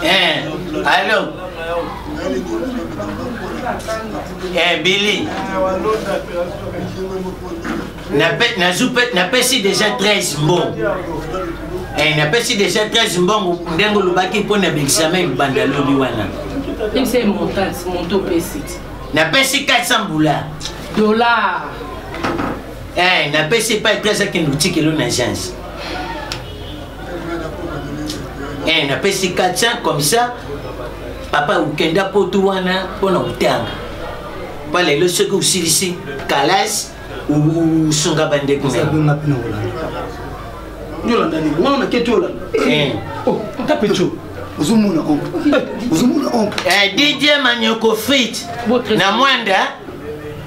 Eh, allô eh, Billy napesi déjà 13 mbongo eh, napesi déjà 13 mbongo ndenge olobaki mpo na baexamen libanda lobi wana napesi 400 bula dollar eh, napesi epai 13 akende otikelo na agence eh, napesi 400 comme ça papa okenda potu wana mpo na kotanga mpo lelo soki osilisi kalasi osunga bandeko ozomona oncle ozomona oncle eh, didie manyoko frite na mwanda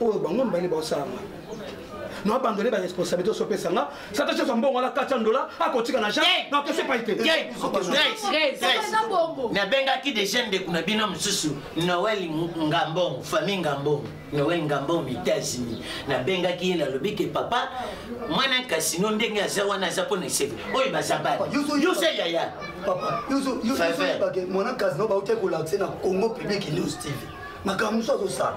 oyo bango mibale baosala nga na abandone baresponsabilité osopesa nga sata chose mbongo ala kati ya ndola akotika na jane nakese pai te nabengaki deja ndeko na bino mosusu noel ngambongo famille ngambongo noel ngambongo na états-unis nabengaki ye nalobi ke papa mwana kasino ndenge aza wana aza mpo na eseve oyo baza bana yoso yaya mwana kasino bautaki kolakise na congo public news tv makambo mosusu azosala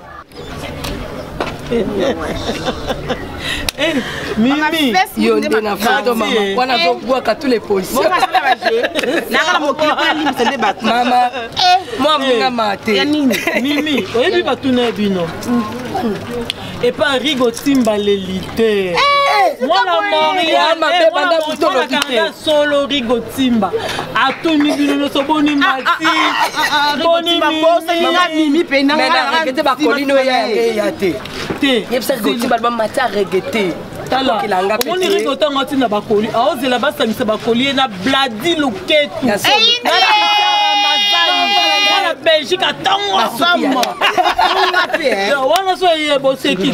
Eh, mimi yo nde na foto mama wana azobwaka tous les positions nakala mokili mpo nalimbisa nde bato mama eh. mwa mongama te ya nini mimi oyebi batuna ya bino epa rigo timbaleli te mwana moriaasolo rigo timba atuni bino nyonso boni matibonimimi mpenate bakolino eya te te yebisa rigo timba alba mati arege te omoni rigo ntango atina bakoli aozela basangisa bakoli ye na bladi loketu belgique atango asamba wana so eye boseki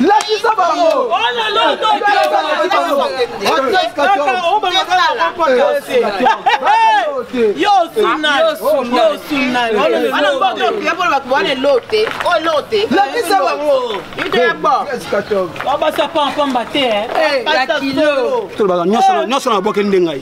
lakisa bango nyonso na boke nde ngai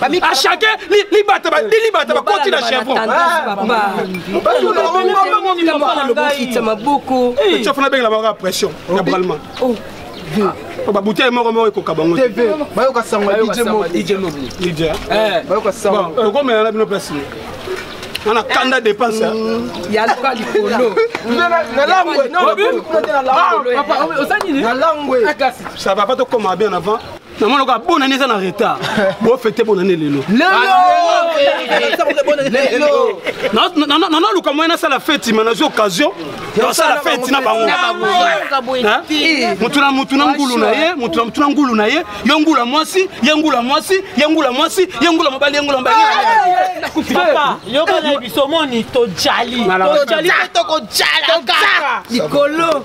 à chacun libata bandi libata bakoti na chevronsofana bengela bango ya pression ya bralman babutei moko moko ekoka bango bayoka sango ya djmokomelana eh. eh. bino place wana kanda dépense yaluka likolo nalangwe ça va pas tokoma bien avant namona ko abonani eza na retard bofete bonani lelo nanaluka moye nasala feti ma nazwi occasion nasala feti na bango motu na motu na ngulu na ye motu na motu na ngulu na ye yo ngula mwasi ye ngula mwasi ye ngula mwasi ye ngula mobali ye ngula mobali yokana biso moni tojali tojali tokojala kaka likolo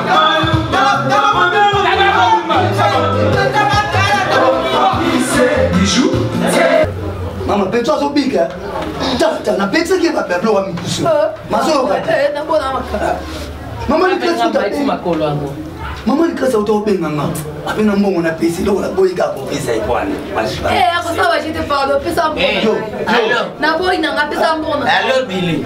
mama peto azobika tata napekisaki ye babablo wa mikusu mazoyoka mama likasumakolo yango mama likasi auta obenga nga ape na mbongo na pesi eloko naboyi kaka kopesa ye wana alobi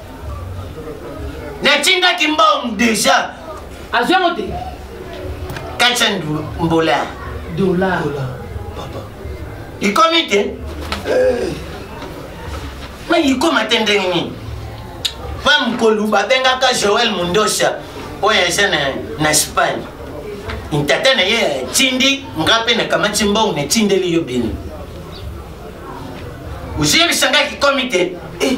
natindaki mbongo deja azwi yango te 400 mbola dola ikomi te eh. ma ikoma te ndenge nini mpa mokolu babengaka joel mondosa oyo aza na, na espagne ntata na ye atindi nga mpe nakamati mbongo natindeli yo bino ozwi yebisangaki komi te eh.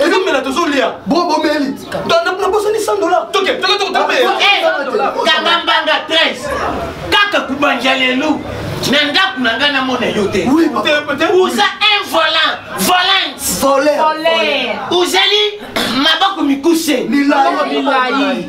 ezo mela tozo lia bo bo meli na na bosa ni 100 dollars toke toke toke toke kanga mbanga 13 kaka kubanja lelo na ndako na ngai namona yo te oza un volant volante ozali maboko mikuse milai